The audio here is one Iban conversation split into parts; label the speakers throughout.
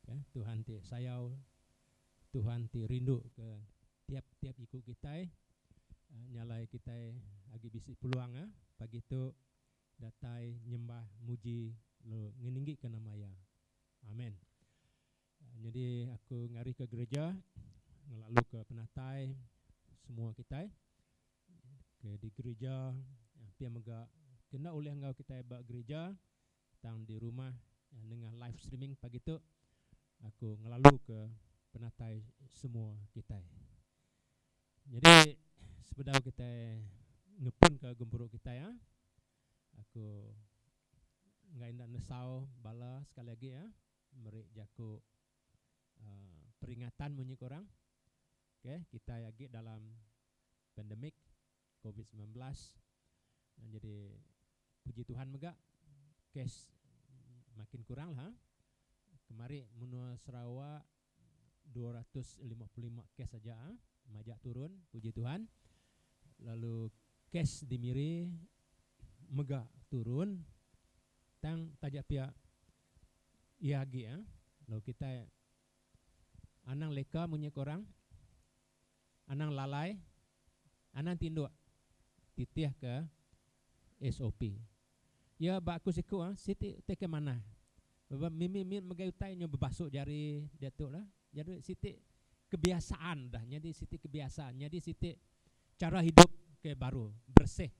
Speaker 1: Ke Tuhan ti sayau, Tuhan ti rindu ke tiap-tiap iku kitai nyalai kitai agi bisi peluang ah pagi tu datai nyembah muji lalu ngeninggi ke nama iya. Amen. Nyadi aku ngari ke gereja ngelalu ke penatai semua kitai ke di gereja pia mega ke enda ulih enggau kitai ba gereja. tang di rumah nengah live streaming pagi tu aku ngelaluka penatai semua kitai. Nyadi sebedau kitai ngepunka gempuru kitai ah aku enggai enda nesau bala sekali agi ah meri jaku uhh peringatan munyi ke orang. Okay kitai agi dalam pandemic. Covid semilan belas jadi puji Tuhan mega kes makin kurang lah kemari menua Sarawak dua ratus lima puluh lima kes aja majak turun puji Tuhan lalu kes di Miri mega turun tang taja pia iya agi lalu kitai anang leka munyi ke orang. anang lalai, anang tinduk titihka SOP. Iya ba aku siku siti utai ke manah laban mimi mit megai utai nyau bebasuk jari diatu lah jadi siti kebiasaan udah nyadi siti kebiasaan nyadi siti chara hidup ke baru bersih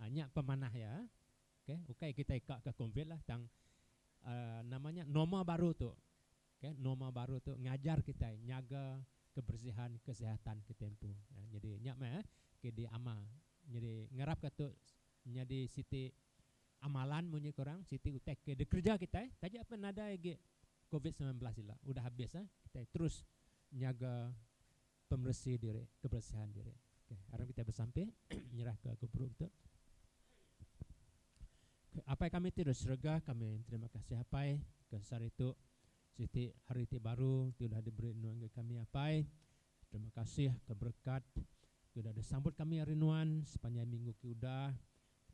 Speaker 1: nya pemanah iya okay ukai kitai ka ke covid lah tang nama nya normal baru tu Ke norma baru tu ngajar kitai nyaga kebersihan kesihatan kitai empu. Nyadi nya meh ke diamal. Nyadi ngarapka tu nyadi siti amalan munyi ke orang, siti utai ke dikereja kitai taja pun nadai agi covid semilan belas ila udah habis kitai terus nyaga pemeresi diri, keberesihan diri. Okey, aram kitai besampi nyerahka guru kita. Apai kami ti di serega, kami terima kasih Apai ke sehari tu siti hari ti baru ti udah diberi Nuan ngagai kami Apai. Terima kasih ke berekat ti udah disambut kami ari Nuan sepanjai minggu ke udah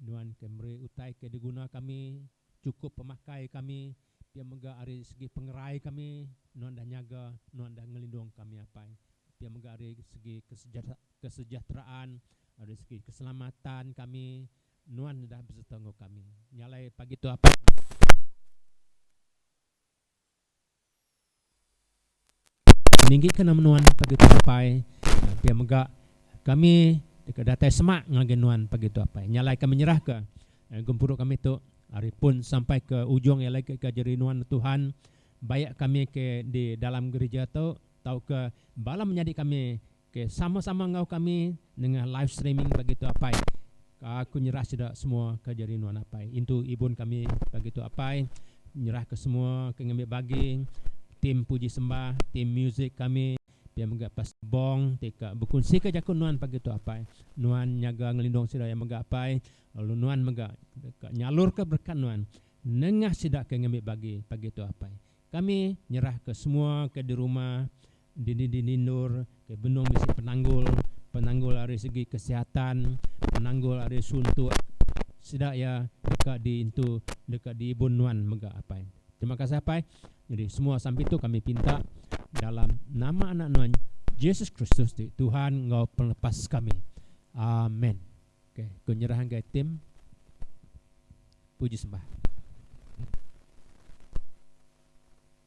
Speaker 1: Nuan ke meri utai ke diguna kami chukup pemakai kami pia mega ari segi pengerai kami Nuan dah nyaga Nuan dah ngelindung kami Apai pia mega ari segi kesejahteraan ari segi keselamatan kami Nuan udah besereta enggau kami nyalai pagi tu Apai. Ninggika nama nuan pagi tu apai pia mega kami deka datai semak ngagai nuan pagi tu apai nyalai ka menyerah ka gempuru kami tu ari pun sampai ke ujung iya lagi ka jeri nuan tuhan bayak kami ke di dalam gerija tu tauka bala menyadi kami Ok sama-sama enggau kami nengah live streaming pagi tu apai. Aku nyerah sida semua ke jadi nuan apai. Intu ibun kami pagi tu apai. Nyerah ke semua ke ngambi bagi tim puji sembah, tim music kami pia mega Pastor Bong ti ka bekunsi ke jaku nuan pagi tu apai. Nuan nyaga ngelindung sida iya mega apai lalu nuan mega deka nyalur ke berekat nuan nengah sida ke ngambi bagi pagi tu apai. Kami nyerah ke semua ke di rumah. Dini-dini endur ke benung bisi penanggul, penanggul ari segi kesihatan, penanggul ari suntuk sida iya deka diintu deka diibun nuan mega apai. Terima kasih apai. Nyadi semua sampi tu kami pinta dalam nama anak nuan Jesus Kristus ti Tuhan enggau pelepas kami. Amen. Okey, ku nyerah enggai tim puji sembah.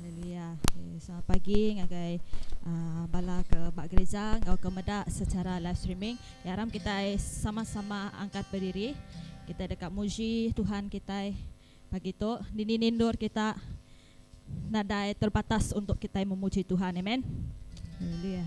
Speaker 2: Haleluya. Okay, selamat pagi ngagai uh, bala ke ba gereja enggau ke meda secara live streaming. Ya ram kita sama-sama angkat berdiri. Kita deka muji Tuhan kita pagi tu. Dini nindur kita nadai terbatas untuk kita memuji Tuhan. Amen. Haleluya.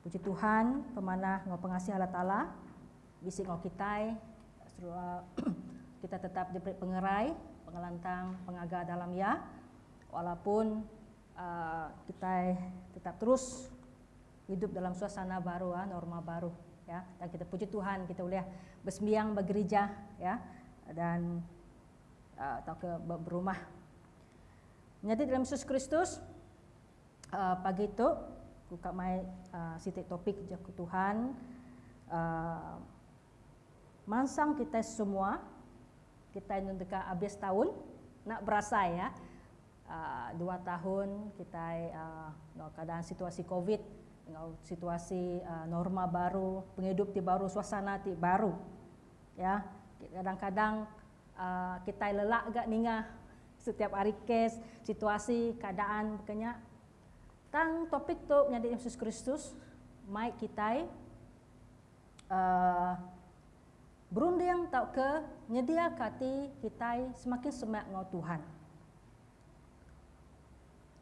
Speaker 3: Puji Tuhan, pemanah enggau pengasih Allah Taala bisi enggau kitai serua kitai tetap diberi pengerai, pengelantang, pengaga dalam Iya walaupun kitai tetap terus hidup dalam suasana baru, norma baru. Dan kitai puji Tuhan kitai ulih besembiang ba gerija dan tauka ba berumah. Menyadi dalam Yesus Kristus, Pagi tu ku ka mai siti topik jaku Tuhan mansang kitai semua kitai enu deka abis taun enda berasai iya dua taun kitai enggau keadaan situasi covid enggau situasi norma baru pengidup ti baru suasana ti baru iya kadang-kadang Kitai lelak ga ninga setiap hari kes, situasi, keadaan baka nya. Tang topik tu menyadi Yesus Kristus mai kitai berunding tauka nyediaka ati kitai semakin semak enggau Tuhan.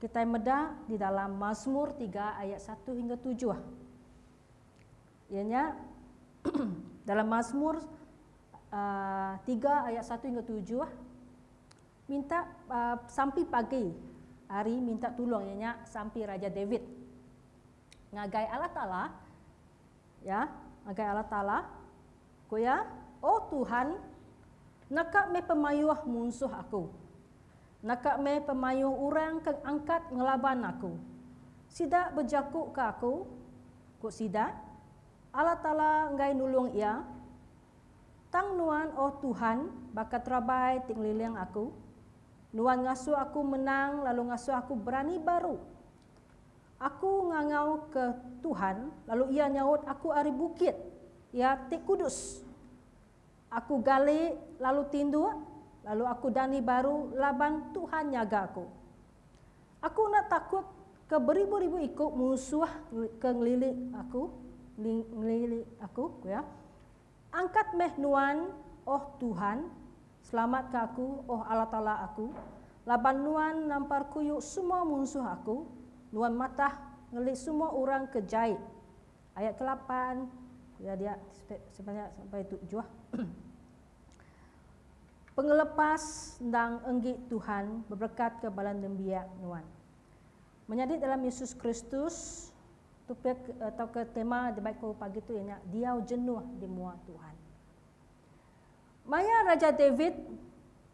Speaker 3: Kitai meda di dalam Mazmur tiga ayat satu hingga tujuh. Iya nya, dalam Masmur tiga ayat satu hingga tujuh, minta sampi pagi hari minta tulung iya nya sampi Raja David ngagai Allah Taala, ya, ngagai Allah Taala, ku iya, O Tuhan, naka meh pemayuh munsuh aku. Naka meh pemayuh orang ke angkat ngelaban aku. Sida bejaku ke aku, ku sida, Allah Taala enggai nulung iya. Tang Nuan, oh Tuhan, baka terabai ti ngeliling aku. Nuan ngasuh aku menang lalu ngasuh aku berani baru. Aku ngangau ke Tuhan, lalu Iya nyaut aku ari bukit Iya ti kudus. Aku gali, lalu tinduk, lalu aku dani baru laban Tuhan nyaga aku. Aku enda takut ke beribu-ribu iku munsuh ke ngelili aku, ngelili aku, ku iya. Angkat meh Nuan, oh Tuhan, selamatka aku, oh Allah Taala aku, laban Nuan nampar kuyu semua munsuh aku, Nuan matah ngelili semua orang ke jai Ayat ke lapan, ya dia sebenarnya sampai tujuh. Pengelepas endang enggi Tuhan beberekatka bala nembiak nuan. Menyadi dalam Yesus Kristus, topik atau ke tema dibai ku pagi tu iya nya diau jenuh di mua Tuhan. Maya Raja David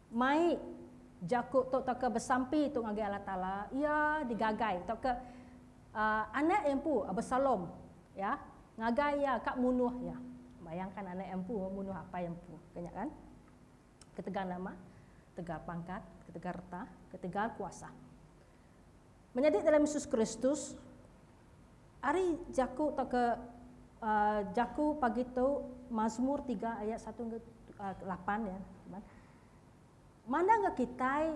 Speaker 3: mai jaku tu tauka besampi tu ngagai Allah Taala, iya digagai tauka anak empu Absalom ya ngagai iya ka munuh iya. Bayangkan anak empu munuh apai empu ka nya kan. Ketegal nama, ketegal pangkat, ketegal reta, ketegal kuasa. Menyadi dalam Yesus Kristus, Ari jaku tauka jaku pagi tu Mazmur tiga ayat satu enggau lapan iya mandangka kitai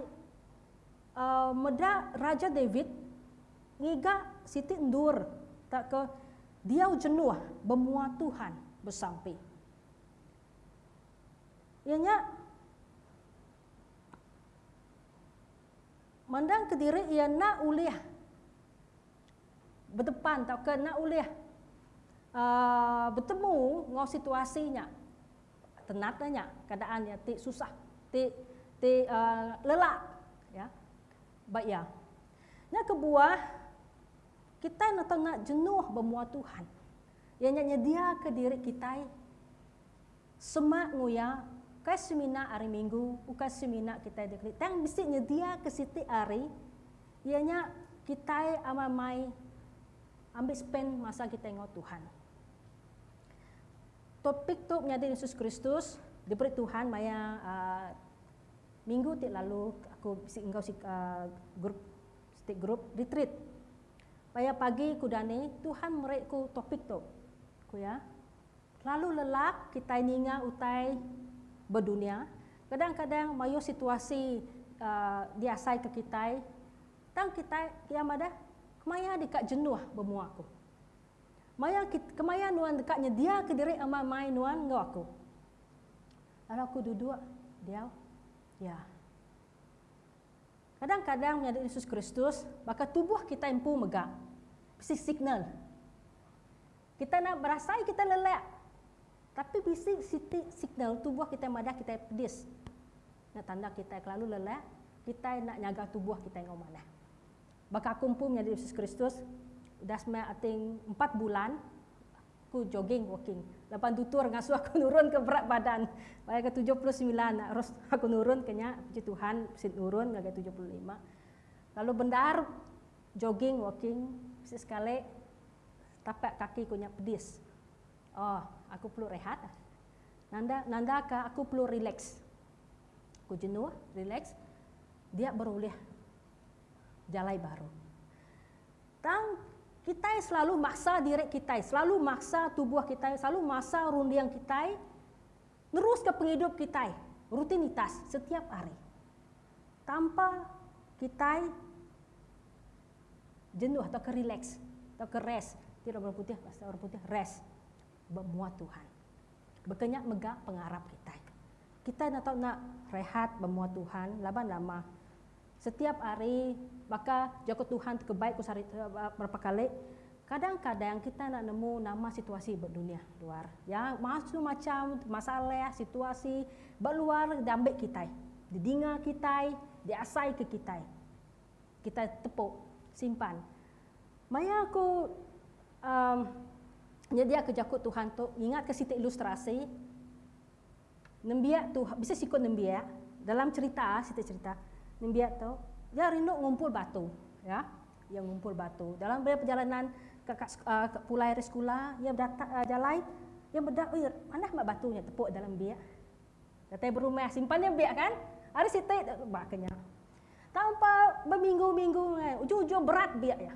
Speaker 3: meda Raja David ngiga siti endur tauka diau jenuh bemua Tuhan besampi. Iya nya mandangka diri iya enda ulih. bedepan tauka enda ulih betemu enggau situasi nya tenat nya keadaan nya ti susah ti ti lelak ba iya. Nya kebuah kitai enda tau jenuh bemua Tuhan iya nya nyediaka diri kitai Semak nguya, Ukai semina hari minggu, ukai semina kitai dikeri tang bisi nyediaka siti hari iya nya kitai amat mai ambi spend masa kitai enggau Tuhan. Topik tu menyadi Yesus Kristus diberi Tuhan maya minggu ti lalu aku bisi enggau group siti group retreat. Maya pagi ku dani Tuhan meri ku topik tu. Ku iya, Lalu lelak kitai ninga utai bedunya, kadang-kadang mayuh situasi diasaika kitai, tang kitai pia madah kemaya deka jenuh bemua aku. Maya kemaya nuan deka nyediaka diri amai-amai nuan enggau aku. Lalu aku duduk diau. Ya. Kadang-kadang menyadi Yesus Kristus, baka tubuh kitai empu mega bisi signal. Kitai enda berasai kitai lelak, tapi bisi siti signal tubuh kitai madah kitai pedis. Nya tanda kitai kelalu lelak, kitai enda nyaga tubuh kitai enggau manah. Baka aku empu menyadi Jesus Kristus, udah semai ati empat bulan aku jogging, walking. Laban dutur ngasuh aku nurunka berat badan maya ke tujuh puluh semilan, terus aku nurunka nya, puji Tuhan bisi nurun ngagai tujuh puluh lima. Lalu bendar jogging, walking, bisi sekali. Tapak kaki ku nya pedis. Oh, aku perlu rehat. Nanda nanda ka aku perlu relax. Ku jenuh, relax. Dia baru ulih jalai baru. Tang kitai selalu maksa diri kitai, selalu maksa tubuh kitai, selalu maksa runding kitai neruska pengidup kitai, rutinitas setiap hari. Tanpa kitai jenuh tauka relax tauka rest ti orang putih bahasa orang putih rest ba mua Tuhan. Baka nya mega pengarap kitai. Kitai enda tau enda rehat ba mua Tuhan laban nama setiap hari baka jaku Tuhan ti kebai ku sehari berapa kali kadang-kadang kitai enda nemu nama situasi ba dunya luar ya macam-macam masalah situasi ba luar diambi kitai, didinga kitai, diasai ke kitai. Kitai tepuk, simpan. Maya aku um, nyediaka jaku Tuhan tu, ngingatka siti ilustrasi, nembiak tu, bisi siku nembiak, dalam cerita, siti cerita, nembiak tu, dia rindu ngumpul batu. Ya, dia ngumpul batu. Dalam perjalanan ke, ke, uh, ke pulai dari sekolah, dia berdatak uh, jalai, dia bedak, ui, manah mak batu nya tepuk dalam biak. Datai berumah simpan nya biak kan. Ari siti baka nya. Tang empa beminggu-minggu ngai ujung-ujung berat biak nya.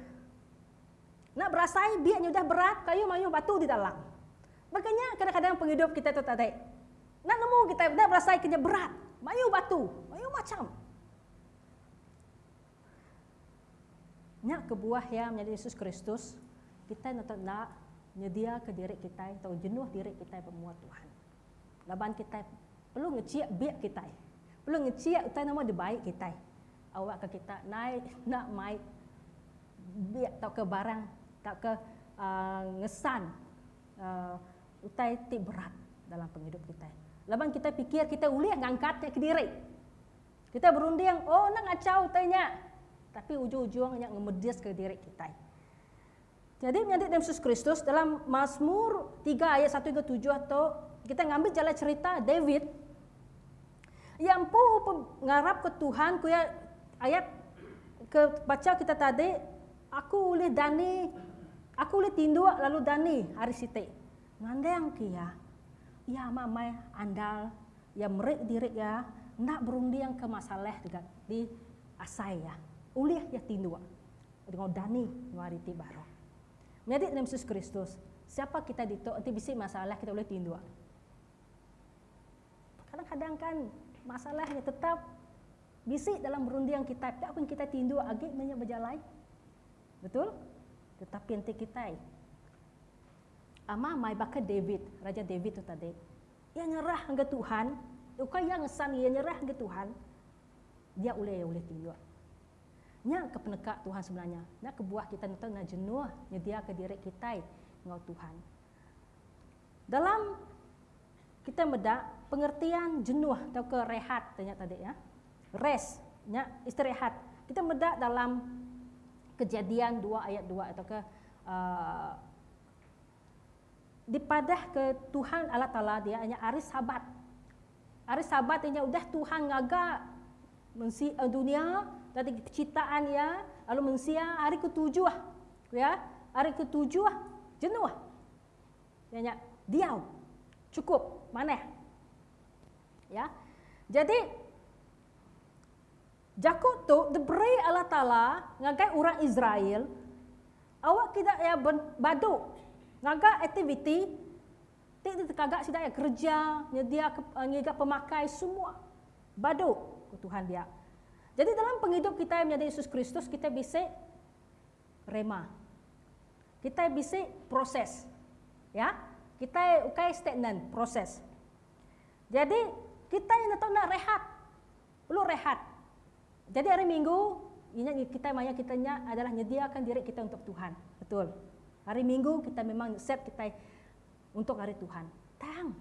Speaker 3: Enda berasai biak nya udah berat kayu mayuh batu di dalam. Baka nya kadang-kadang pengidup kita tu tadi. Enda nemu kita enda berasai ke nya berat. Mayuh batu, mayuh macham. Nya kebuah iya menyadi Yesus Kristus, kitai neto enda nyediaka diri kitai tau jenuh diri kitai bemua Tuhan. Laban kitai perlu ngechik bik kitai. Perlu ngechik utai nama dibai kitai. Awakka kita nai enda mai bik tauka barang tauka ngesan utai ti berat dalam pengidup kitai. Laban kitai pikir kitai ulih ngangkat nya kediri. Kitai berunding, oh enda ngachau utai nya. Tapi ujung-ujung nya ngemediska diri kitai. Nyadi menyadi dengan Yesus Kristus dalam Masmur tiga ayat satu hingga tujuh tu kita ngambi jalai cerita David ia empu ngarap ke Tuhan ku ia ayat ke baca kita tadi aku ulih dani aku ulih tinduk lalu dani hari siti ngandang ke ia ia amat amai andal ia meri diri ia enda berunding ke masalah di asai ia ulih ia tinduk. Enggau dani enggau ari ti baru. Menyadi Tuhan Yesus Kristus, siapa kitai ditu enti bisi masalah kitai ulih tinduk. Kadang-kadang kan masalah nya tetap bisi dalam runding kitai, pia pun kitai tinduk agi meh nya bejalai. Betul? Tetapi enti kitai ama mai baka David, Raja David tu tadi, iya nyerah ngagai Tuhan, ukai iya ngesan iya nyerah ngagai Tuhan, dia ulih iya ulih tinduk. Nya ke peneka Tuhan sebenarnya. Nya kebuah kitai neto enda jenuh nyediaka diri kitai enggau Tuhan. Dalam kitai meda pengertian jenuh tauka rehat te nya tadi ya. Rest nya istirehat. Kitai meda dalam Kejadian dua ayat dua tauka uh, dipadahka Tuhan Allah Taala dia nya hari Sabat. Ari Sabat inya udah Tuhan ngaga mensi dunia tadi pecitaan iya lalu mensia ari ketujuh ya ari ketujuh jenuh iya nya diau cukup manah ya jadi jaku tu diberi Allah Taala ngagai orang Israel awak kida iya badu ngaga aktiviti Ti ditekaga sida iya kereja nyediaka ngiga pemakai semua badu, ku Tuhan dia. Jadi dalam pengidup kitai menyadi Yesus Kristus, kitai bisi rhema. Kitai bisi proses. Ya, kitai ukai stagnan, proses. Jadi kitai neto enda rehat. Perlu rehat. Jadi hari Minggu, iya nya kitai maya kita nya adalah nyediakan diri kita untuk Tuhan. Betul. Hari Minggu kita memang set kitai untuk hari Tuhan. Tang.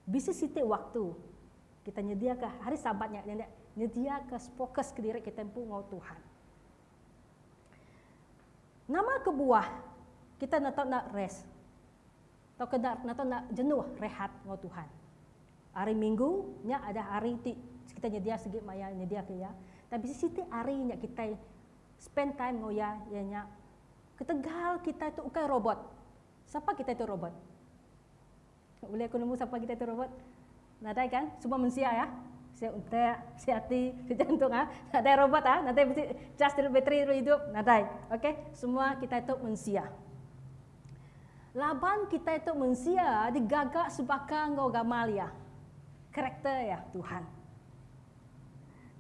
Speaker 3: Bisi siti waktu kita nyediaka hari Sabat nya nyenda nyediaka fokus ke diri kita empu enggau Tuhan. Nama kebuah kita enda tau enda rest. tauka enda kena tau enda jenuh rehat enggau Tuhan. Hari Minggu nya adalah hari ti kitai nyedia sigi maya nyediaka iya, tang bisi siti hari nya kitai spend time enggau iya iya nya ketegal kitai tu ukai robot. Sapa kitai tu robot? Ulih aku nemu sapa kitai tu robot? Nadai kan semua mensia ya. Sia utak, sia ati, sia jantung ah. Nadai robot ah, nadai besi cas telu bateri telu hidup, nadai. Okey, semua kitai tu mensia. Laban kitai tu mensia digaga sebaka enggau gamal iya. Karakter iya, Tuhan.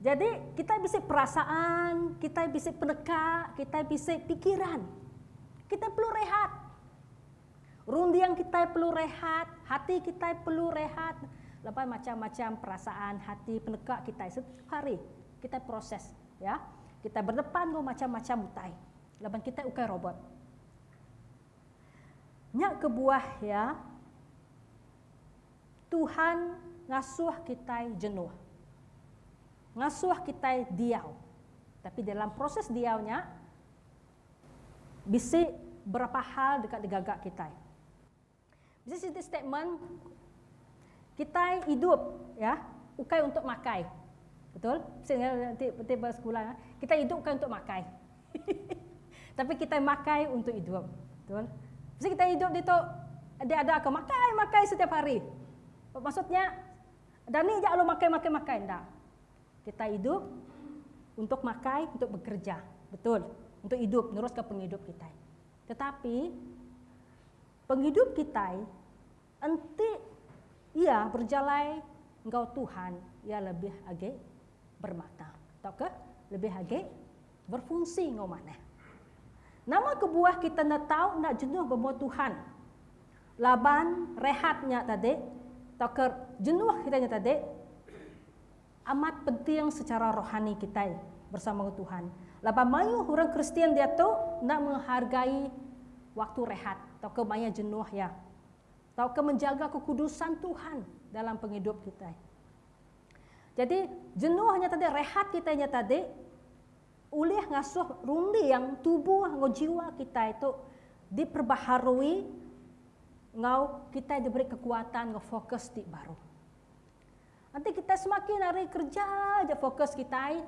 Speaker 3: Jadi, kitai bisi perasaan, kitai bisi peneka, kitai bisi pikiran. Kitai perlu rehat. Runding kitai perlu rehat, hati kitai perlu rehat. Lepas macam-macam perasaan hati peneka kitai setiap hari kitai proses ya. Kitai berdepan enggau macam-macam utai. Laban kitai ukai robot. Nya kebuah ya Tuhan ngasuh kitai jenuh. Ngasuh kitai diau. Tapi dalam proses diau nya Bisi berapa hal deka digaga kitai. Bisi siti statement kitai idup ya ukai untuk makai. Betul? Bisi nanti nanti ba sekula ya. Kitai idup ukai untuk makai. Tapi kitai makai untuk idup. Betul? Bisi kitai idup ditu dia ada ke makai makai setiap hari. Maksudnya dani ja alu makai makai makai enda. Kitai idup untuk makai, untuk bekerja. Betul. Untuk idup, neruskan pengidup kitai. Tetapi, pengidup kitai enti iya berjalai enggau Tuhan, iya lebih agi bermakna tauka lebih agi berfungsi enggau manah. Nama kebuah kita enda tau enda jenuh bemua Tuhan? Laban rehat nya tadi tauka jenuh kita nya tadi Amat penting sechara rohani kitai bersama enggau Tuhan. Laban mayuh orang Kristian diatu enda menghargai waktu rehat tauka maya jenuh iya tauka menjaga kekudusan Tuhan dalam pengidup kitai. Jadi, jenuh nya tadi, rehat kitai nya tadi ulih ngasuh runding tubuh enggau jiwa kitai tu diperbaharui enggau kitai diberi kekuatan enggau fokus ti baru. Enti kitai semakin ari kereja aja fokus kitai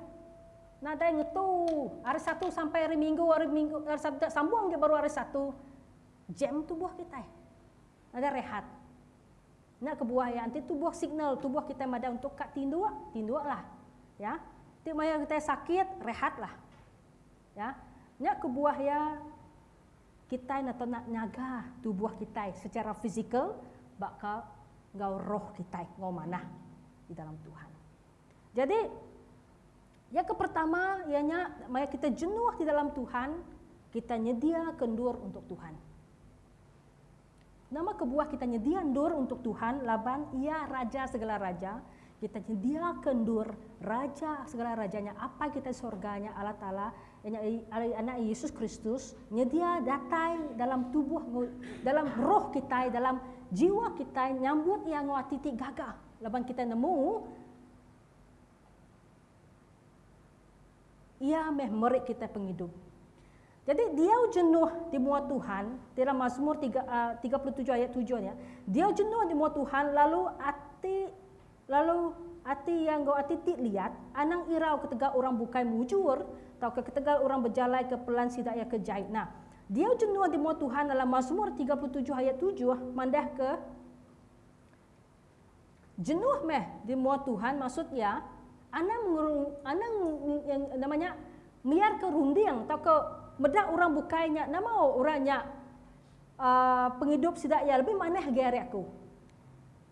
Speaker 3: nadai ngetu hari satu sampai hari minggu hari minggu hari satu da sambung agi baru hari satu jam tubuh kitai nadai rehat nya kebuah iya enti tubuh signal tubuh kitai madai untuk ka tinduk tinduklah ya ti maya kitai sakit rehatlah Ya, nya kebuah iya kitai enda tau nak nyaga tubuh kitai secara fizikal baka enggau roh kitai enggau manah di dalam Tuhan. Jadi, yang ke pertama iya nya maya kitai jenuh di dalam Tuhan, kitai nyediaka endur untuk Tuhan. Nama kebuah kita nyedia endur untuk Tuhan laban Iya Raja segala raja? Kita nyediaka endur Raja segala raja nya Apai kita di sorga nya, Allah Taala, iya nya ari Anak Iya Yesus Kristus, nyedia datai dalam tubuh enggau dalam roh kitai, dalam jiwa kitai nyambut Iya enggau ati ti gaga laban kita nemu Iya meh meri kitai pengidup. Jadi diau jenuh di mua Tuhan, ti dalam Mazmur tiga tiga puluh tujuh ayat tujuh nya, diau jenuh di mua Tuhan lalu ati lalu ati iya enggau ati ti liat, anang irau ketegal orang bukai mujur tauka ketegal orang bejalaika pelan sida iya ke jai. Nah, diau jenuh di mua Tuhan dalam Mazmur tiga puluh tujuh ayat tujuh mandahka. Jenuh meh di mua Tuhan maksud iya, anang ngerung anang nama nya meyarka runding tauka meda orang bukai nya nama orang nya uhh pengidup sida iya lebih manah agi ari aku.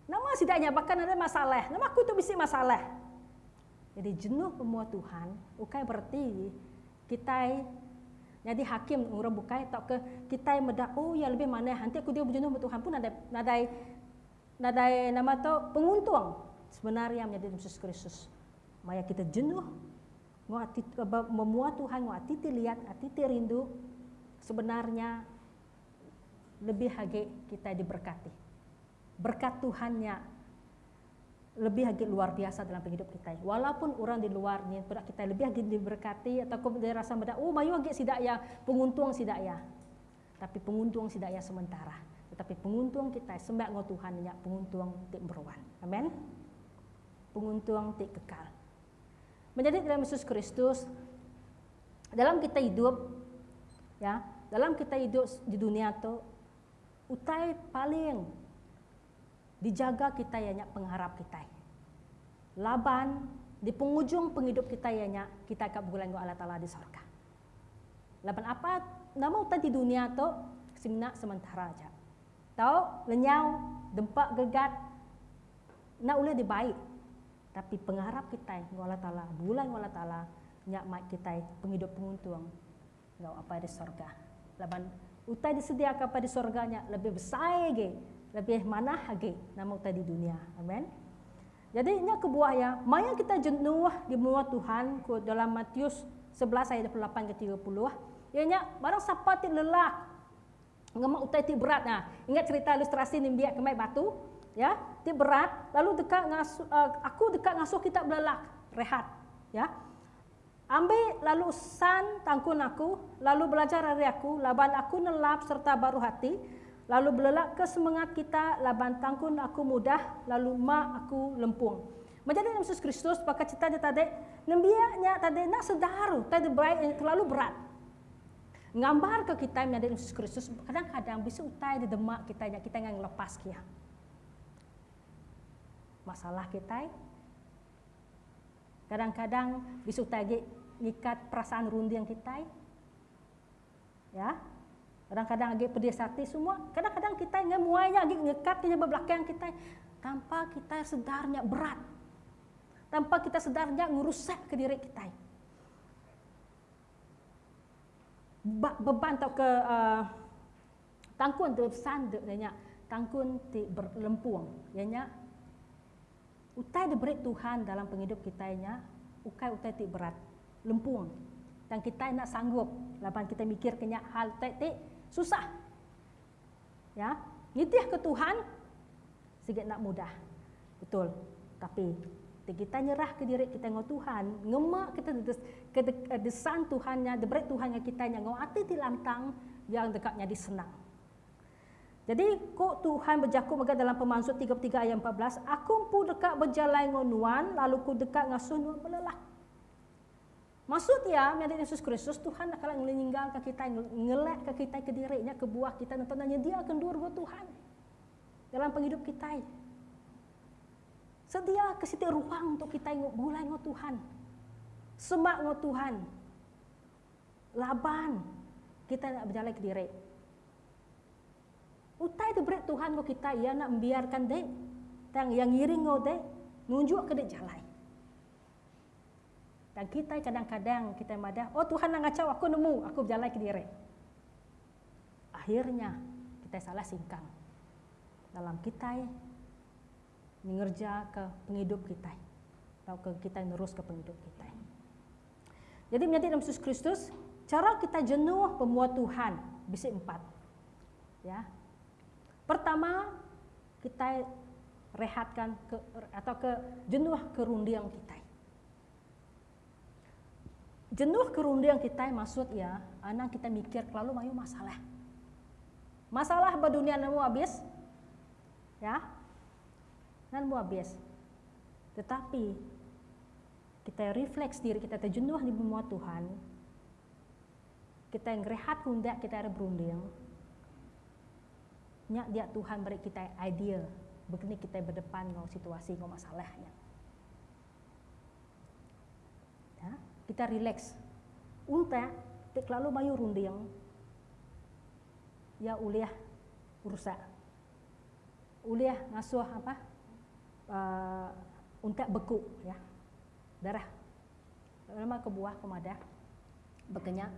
Speaker 3: Nama sida nya baka nadai masalah, nama aku tu bisi masalah. Jadi jenuh ba mua Tuhan ukai bereti kitai nyadi hakim orang bukai tauka kitai meda oh iya lebih manah enti aku diau bejenuh ba Tuhan pun nadai nadai Nadai nama tu penguntung sebenar iya menyadi Yesus Kristus. Maya kita jenuh enggau ati memua Tuhan enggau ati ti liat, ati ti rindu, sebenar nya lebih agi kitai diberkati. Berkat Tuhan nya lebih agi luar biasa dalam pengidup kitai. Walaupun orang di luar nyin peda kitai lebih agi diberkati atau ko meda rasa meda, oh mayuh agi sida iya penguntung sida iya. Tapi penguntung sida iya sementara, tetapi penguntung kitai sembai enggau Tuhan nya penguntung ti meruan. Amen. Penguntung ti kekal. Menjadi dalam Yesus Kristus, dalam kita hidup, ya, dalam kita hidup di dunia tu, utai paling dijaga kita ianya pengharap kita. Laban di pengujung penghidup kita ianya kita akan bergulai dengan Allah Taala di sorga. Laban apa nama utai ti dunia tu semina sementara aja. Tau lenyau dempa gregat enda ulih dibai tapi pengarap kitai enggau Allah Taala begulai enggau Allah Taala nya mai kitai pengidup penguntung enggau Apai di sorga. Laban utai disediaka Apai di sorga nya lebih besai agi lebih manah agi nama utai di dunia. Amen. Jadi nya kebuah iya, maya kitai jenuh di menua Tuhan, ku dalam Matius sebelas ayat dua puluh lapan enggau tiga puluh, iya nya, barang sapa ti lelak ngema utai ti berat, nah, ingat cherita ilustrasi nimbiak kemai batu, ya, ti berat, lalu deka ngasuh, Aku deka ngasuh kita belelak rehat, ya. Ambi lalu San tangkun aku, lalu belajar ari aku, laban aku nelap sereta baruh ati, lalu belelakka semengat kita laban tangkun aku mudah, lalu ma aku lempung. Menjadi endur Yesus Kristus baka cita nya tadi, nembiak nya tadi enda sedar utai diberai iya kelalu berat. Ngambarka kitai menyadi endur Yesus Kristus, kadang-kadang bisi utai di dema kitai nya kitai enggai ngelepaska iya. Masalah kitai. Kadang-kadang bisu utai agi ngikat perasaan runding kitai. Ya. Kadang-kadang agi pedis ati semua. Kadang-kadang kitai ngan muai nya agi ngekat inya ba belakang kitai tanpa kitai sedar nya berat. Tanpa kitai sedar nya ngerusakka diri kitai. Ba beban tauka uhh tangkun tu besanda iya nya tangkun ti berlempung iya nya. Utai diberi Tuhan dalam pengidup kitai nya ukai utai ti berat, lempung, tang kitai enda sanggup laban kitai mikirka nya hal utai ti susah. Ya, nitihka Tuhan sigi enda mudah, betul. Tapi, ti kitai nyerahka diri kitai enggau Tuhan, ngema ke desan Tuhan nya diberi Tuhan ngagai kitai nya enggau ati ti lantang, iya deka nyadi senang. Jadi, ku Tuhan bejaku mega dalam Pemansut tiga puluh tiga ayat empat belas, Aku empu deka bejalai enggau nuan, lalu Ku deka ngasuh nuan belelak. Maksud iya, meh ari Yesus Kristus, Tuhan enda kala ngelinggalka kitai, ngelekka kitai kediri nya kebuah kitai nentang enda nyediaka endur enggau Tuhan dalam pengidup kitai. Sediaka siti ruang untuk kitai begulai enggau Tuhan, semak enggau Tuhan. Laban kitai enda bejalai kediri. Utai ti beri Tuhan enggau kitai Iya enda membiarka enti, tang Iya ngiring enggau enti, nunjukka di jalai. Tang kitai kadang-kadang kitai madah, oh Tuhan enda ngachau aku nemu, aku bejalai kediri. Akhirnya kitai salah singkang dalam kitai ngereja ke pengidup kitai tauka kitai neruska pengidup kitai. Jadi menyadi dalam Yesus Kristus, cara kita jenuh pemua Tuhan bisi empat. Ya. Pertama, kita rehatkan ke, atau ke jenuh kerunding kita. Jenuh kerunding kita maksud ya, anak kita mikir kelalu mayu masalah. Masalah berdunia nemu habis. Ya. Nemu habis. Tetapi Kitai refleks diri kitai ti jenuh di menua Tuhan, kitai ngerehat kundak kitai ari berunding, nya dia Tuhan meri kitai idea baka ni kitai bedepan enggau situasi enggau masalah nya. Nya, kitai releks. Untak ti kelalu mayuh runding, iya ulih rusak. Ulih ngasuh apa untak beku ya darah nama kebuah ku madah baka nya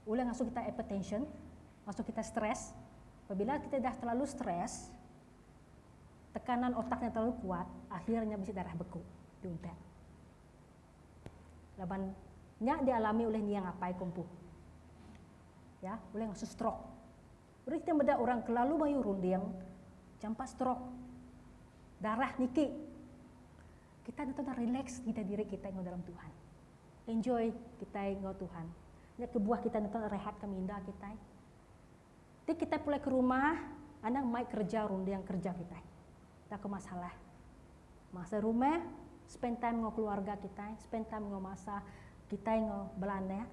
Speaker 3: ulih ngasuh kita hypertension ngasuh kita stress pabila kita dah terlalu stress tekanan otak nya terlalu kuat akhir nya bisi darah beku di untak laban nya dialami oleh nia ngapai ku empu ya ulih ngasuh stroke. Berita meda orang kelalu mayuh runding jampat strok, darah niki. Kitai ngetu enda relax nyida diri kitai enggau dalam Tuhan. Enjoy kitai enggau Tuhan. Nya kebuah kitai ngetu rehat ka minda kitai. Ti kitai pulai ke rumah anang mai kereja runding kereja kitai. Enda ko masalah. Masa rumah spend time enggau keluarga kitai, spend time enggau masa kitai enggau bala anak.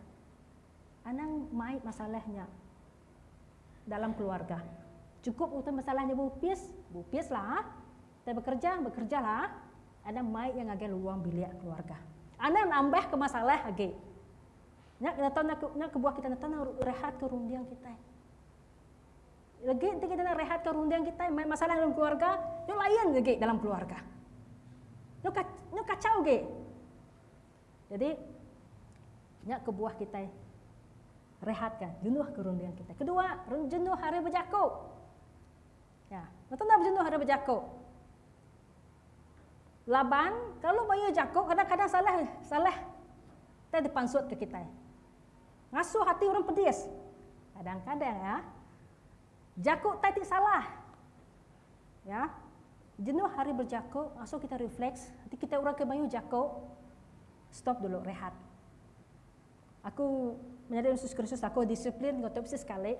Speaker 3: Anang mai masalah nya. dalam keluarga. Cukup utai masalah nya beupis, beupis lah. Utai bekerja, bekerja lah. Anang mai iya ngagai luang bilik keluarga. Anang nambah ke masalah agi. Nya ke neta nya kebuah kitai neta nang rehat ke runding kitai. Legi enti kitai nang rehat ke runding kitai mai masalah dalam keluarga, nya lain agi dalam keluarga. Nya kacau agi. Jadi nya kebuah kitai rehatka jenuh ke runding kitai. Kedua, jenuh ari bejaku. Ya, betul dah jenuh ari bejaku. Laban kalau mayuh jaku kadang-kadang salah salah kita dipansut ke kita. Ngasuh hati orang pedis. Kadang-kadang ya. Jaku tadi salah. Ya. Jenuh ari bejaku ngasuh kitai refleks, ati kitai orang ke mayuh jaku, stop dulu, rehat. Aku menyadi orang Yesus Kristus, aku disiplin enggau tu bisi sekali.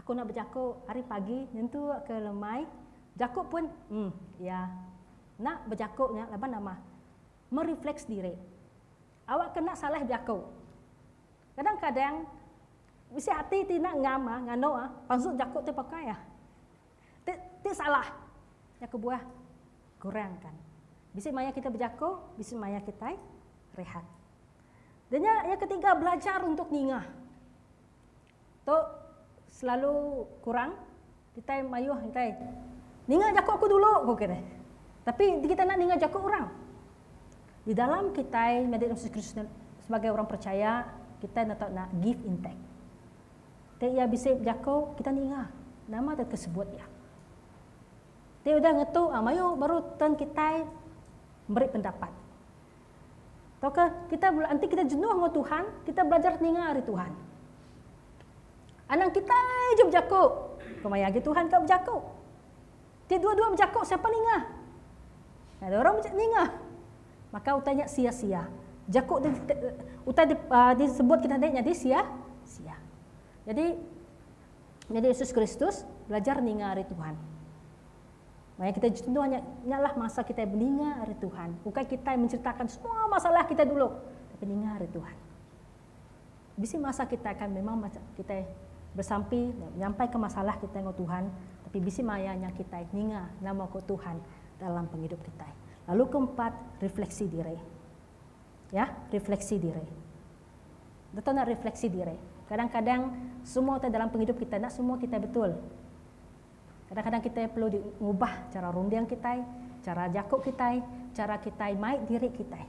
Speaker 3: Aku enda bejaku ari pagi nyentuk ke lemai, bejaku pun, em, ya. Enda bejaku nya laban nama? Merefleks diri. Awakka enda salah bejaku. Kadang-kadang Bisi ati ti enda ngam ah nganu ah pansut jaku ti pakai ah ti ti salah nya kebuah kurangkan bisi maya kitai bejaku bisi maya kitai rehat. Da nya yang ketiga belajar untuk ninga tu selalu kurang Kitai mayuh engkai. Ninga jaku aku dulu, ku kitai. Tapi kita enda ninga jaku orang. Di dalam kitai nyadi orang Kristian sebagai orang percaya, kitai enda tau enda give in take. Ti iya bisi bejaku, kitai ninga. Nama tau ke sebut iya. Ti udah ngetu, ah mayuh baru turn kitai meri pendapat. Tauka kita bela enti kita jenuh enggau Tuhan, kita belajar ninga ari Tuhan. Anang kitai je bejaku, ko maya agi Tuhan ka bejaku. Ti dua-dua bejaku siapa ninga? Nah, dia orang ninga. Maka utai nya sia-sia. Jaku di, utai di, uh, disebut kita ni jadi sia sia. Jadi jadi Yesus Kristus belajar ninga ari Tuhan. Maya kitai jenuh nya, nyalah masa kitai beninga ari Tuhan, ukai kitai menceritakan semua masalah kitai dulu, tapi ninga ari Tuhan. Bisi masa kitai akan memang kitai besampi nyampaika masalah kitai enggau Tuhan, tapi bisi maya nya kitai ninga nama ku Tuhan dalam pengidup kitai. Lalu keempat, refleksi diri. Ya, refleksi diri. Betul nak refleksi diri. Kadang-kadang semua utai dalam pengidup kitai, nak semua kitai betul. Kadang-kadang kitai perlu di ngubah chara runding kitai, chara jaku kitai, chara kitai mai diri kitai.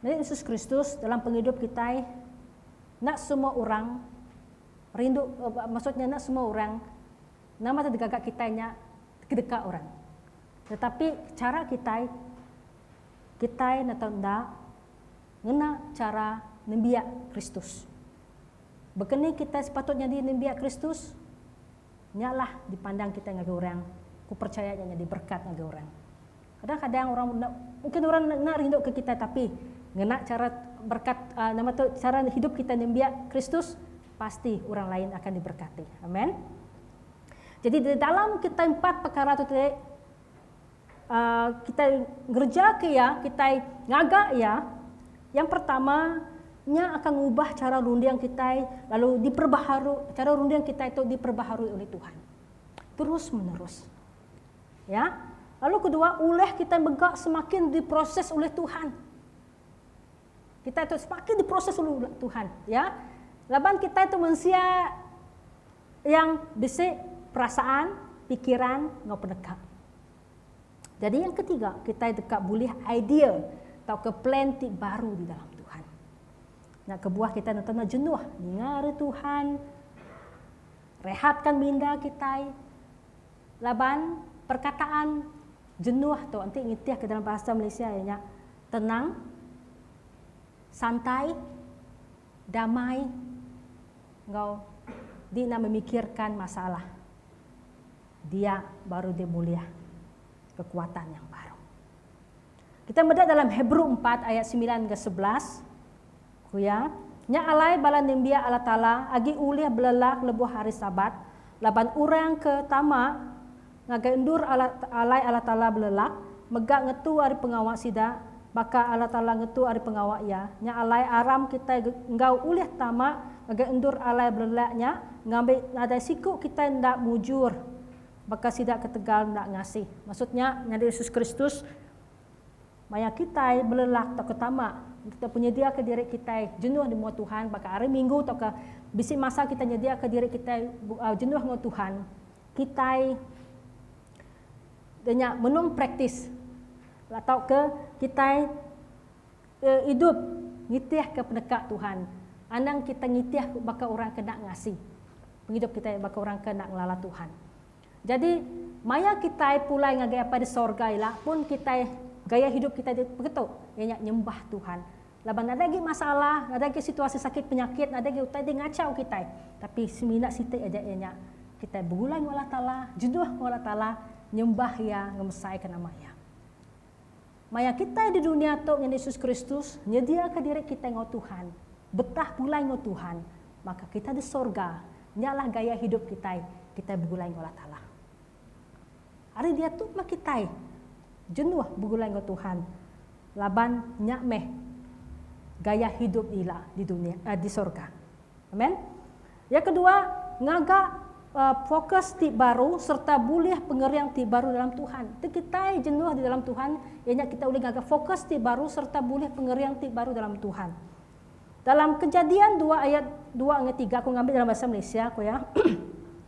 Speaker 3: Meri Yesus Kristus dalam pengidup kitai enda semua orang rindu maksud nya enda semua orang nama ti digaga kitai nya kedeka orang. Tetapi chara kitai kitai ne tau enda ngena chara nembiak Kristus. Baka ni kitai sepatut nyadi nembiak Kristus? Nya lah dipandang kitai ngagai orang, ku percaya nya nyadi berkat ngagai orang. Kadang-kadang orang enda mungkin orang enda rinduka kitai tapi ngena chara berkat nama tu chara hidup kitai nembiak Kristus pasti orang lain akan diberkati. Amen. Jadi di dalam kitai empat pekara tu tadi Kitai ngereja ke iya, kitai ngaga iya, yang pertama, nya akan ngubah chara runding kitai lalu diperbaharu, chara runding kitai tu diperbaharui ulih Tuhan terus menerus. Ya. Lalu kedua, ulah kitai mega semakin diproses ulih Tuhan. Kitai tu semakin diproses ulih Tuhan, ya. Laban kitai tu mensia Yang bisi perasaan, pikiran enggau peneka. Jadi yang ketiga, kitai deka bulih idea tauka plan ti baru di dalam Tuhan. Nya kebuah kitai nenta enda jenuh ninga ari Tuhan, rehatka minda kitai laban perkataan jenuh tu enti nitihka dalam bahasa Malaysia iya nya tenang, santai, Damai enggau dina memikirkan masalah dia baru dia bulih kekuatan yang baru. Kita meda dalam Hebrew empat ayat semilan enggau sebelas, ku iya, Nya alai bala nembiak Allah Taala agi ulih belelak lebuh hari Sabat, laban orang ke tama ngagai endur alai Allah Taala belelak, mega ngetu ari pengawa sida, baka Allah Taala ngetu ari pengawa Iya, nya alai aram kitai enggau ulih tama ngagai endur alai belelak nya ngambi nadai siku kitai enda mujur baka sida ketegal enda ngasih. Maksud nya, nyadi Yesus Kristus maya kitai belelak tauka tama, kitai penyediaka diri kitai jenuh di mua Tuhan baka hari Minggu tauka bisi masa kitai nyediaka diri kitai jenuh enggau Tuhan, kitai nya benung praktis tauka kitai idup nitihka peneka Tuhan anang kitai nitih baka orang ke enda ngasi pengidup kitai baka orang ke enda ngelala Tuhan. Jadi maya kitai pulai ngagai Apai di sorga ila pun kitai gaya hidup kitai ti peketo iya nya nyembah Tuhan. Laban nadai agi masalah, nadai agi situasi sakit penyakit, nadai agi utai ti ngachau kitai. Tapi semina siti aja iya nya, kitai begulai enggau Allah Taala, jenuh enggau Allah Taala, nyembah Iya, ngemesaika nama Iya. Maya kitai di dunya tu ngena Yesus Kristus, nyediaka diri kitai enggau Tuhan, betah pulai enggau Tuhan, maka kitai di sorga, nyalah gaya hidup kitai, kitai begulai enggau Allah Taala. Ari diatu meh kitai jenuh begulai enggau Tuhan laban nya meh gaya hidup ila di dunya eh di sorga. Amen. Yang kedua, ngaga fokus ti baru sereta bulih pengering ti baru dalam Tuhan. Tu kitai jenuh di dalam Tuhan iya nya kitai ulih ngaga fokus ti baru sereta bulih pengering ti baru dalam Tuhan. Dalam Kejadian dua ayat dua enggau tiga aku ngambi dalam bahasa Malaysia ku iya.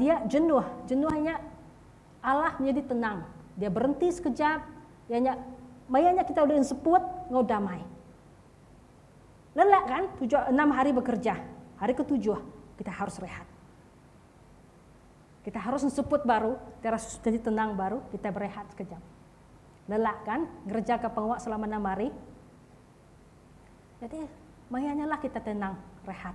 Speaker 3: Dia jenuh. Jenuh nya alah nyadi tenang. Dia berenti sekejap. Iya nya maya nya kitai ulih enseput enggau damai. Lelak kan tujuh enam hari bekerja. Hari ketujuh kitai harus rehat. Kitai harus enseput baru, kitai harus jadi tenang baru, kitai berehat sekejap. Lelak kan ngerejaka pengawa selama enam hari. Jadi maya nya lah kitai tenang, rehat.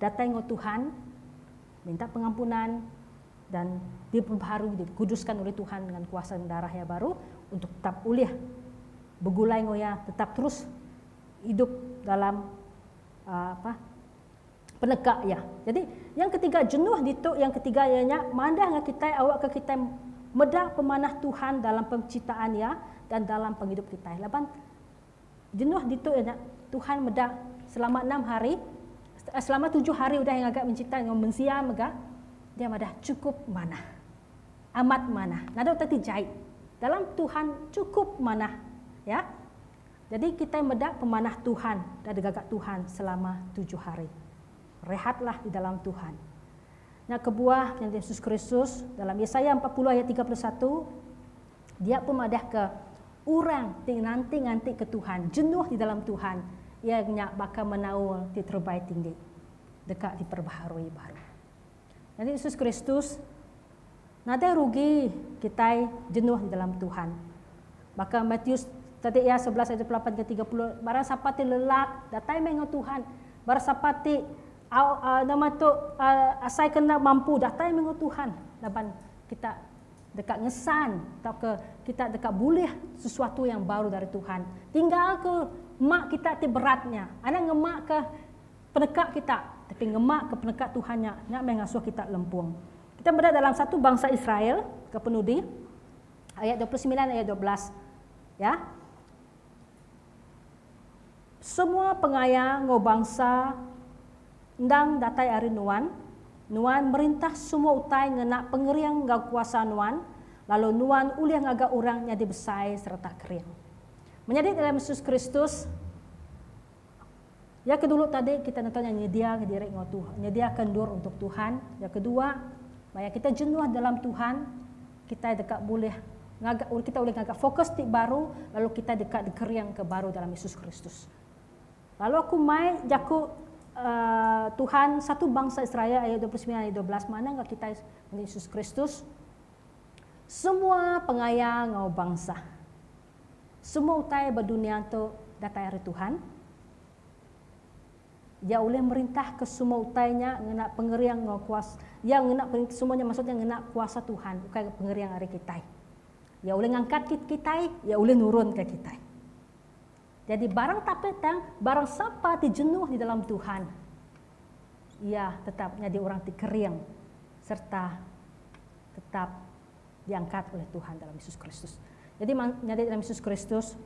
Speaker 3: datai enggau Tuhan, minta pengampunan dan diperbaharui, dikuduskan ulih Tuhan ngan kuasa darah Iya baru untuk tetap ulih begulai enggau Iya, tetap terus idup dalam apa peneka Iya. Jadi, yang ketiga jenuh ditu yang ketiga iya nya madah enggau kitai awakka kitai meda pemanah Tuhan dalam pencitaan Iya dan dalam pengidup kitai laban Jenuh ditu nya, Tuhan meda selama enam hari, selama tujuh hari udah Iya ngaga mencipta enggau mensia mega, Dia madah chukup manah. Amat manah. Nadau teti jai. Dalam Tuhan chukup manah. Ya. Jadi kitai meda pemanah Tuhan da digaga Tuhan selama tujuh hari. Rehatlah di dalam Tuhan. Nya kebuah nyadi Yesus Kristus dalam Yesaya empat puluh ayat tiga puluh satu. Dia pun madahka, Orang ti nganti-ngantika Tuhan, jenuh di dalam Tuhan, iya nya baka menaul ti terebai tinggi, deka diperbaharui baru. Nyadi Yesus Kristus, nadai rugi kitai jenuh di dalam Tuhan. Baka Matius tadi iya sebelas ayat dua puluh lapan ke tiga puluh, barang sapa ti lelak datai meh enggau Tuhan, barang sapa ti au, uh, nama tu uh, asai kena mampu datai meh enggau Tuhan laban kita Deka ngesan tauka kita deka bulih sesuatu yang baru dari Tuhan. Tinggal ke mak kita ti berat nya. Anak ngema ke peneka kita, tapi ngema ke peneka Tuhan nya, nya meh ngasuh kita lempung. Kita meda dalam satu bangsa Israel ke penudi ayat 29 ayat 12. Ya. Semua pengaya enggau bangsa endang datai ari Nuan. Nuan merintah semua utai ngena pengering enggau kuasa Nuan, lalu Nuan ulih ngaga orang nyadi besai sereta kering. Menyadi dalam Yesus Kristus. Iya ke dulu tadi kita ngetu nya nyedia diri enggau Tuhan, nyediaka endur untuk Tuhan. Iya ke dua, maya kita jenuh dalam Tuhan, kitai deka bulih ngaga kita ulih ngaga fokus ti baru lalu kitai deka dikeringka baru dalam Yesus Kristus. Lalu aku mai jaku Uh, Tuhan satu bangsa Israel ayat 29 ayat 12 mana enggau kita Yesus Kristus semua pengaya ngau bangsa. Semua utai ba dunia tu datai ari Tuhan. Iya ulih merintahka semua utai nya ngena pengering enggau kuasa Iya ngena pengering semua nya maksud nya ngena kuasa Tuhan ukai ga pengering ari kitai. Iya ulih ngangkat kitai, iya ulih nurunka kitai. Jadi barang tapi tang barang sapa ti jenuh di dalam Tuhan iya tetap nyadi orang ti kering serta tetap diangkat oleh Tuhan dalam Yesus Kristus. Jadi nyadi dalam Yesus Kristus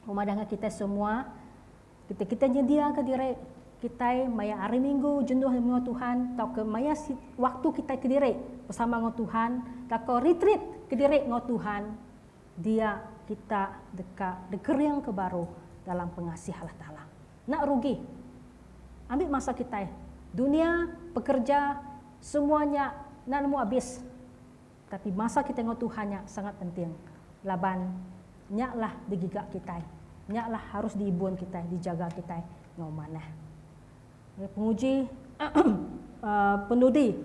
Speaker 3: memadah dengan kita semua kita kita nyedia ke diri kita maya hari minggu jenuh dengan Tuhan tau ke maya waktu kita ke diri bersama dengan Tuhan tau ke retreat ke diri dengan Tuhan dia kita deka degering ke baru dalam pengasih Allah Taala. Enda rugi. Ambi masa kitai. Dunia, pekerja, semua nya enda nemu abis. Tapi masa kitai enggau Tuhan nya sangat penting. Laban nya lah digiga kitai. Nya lah harus diibun kitai, dijaga kitai enggau manah. Ngagai penguji penudi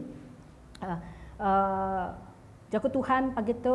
Speaker 3: jaku Tuhan pagi tu.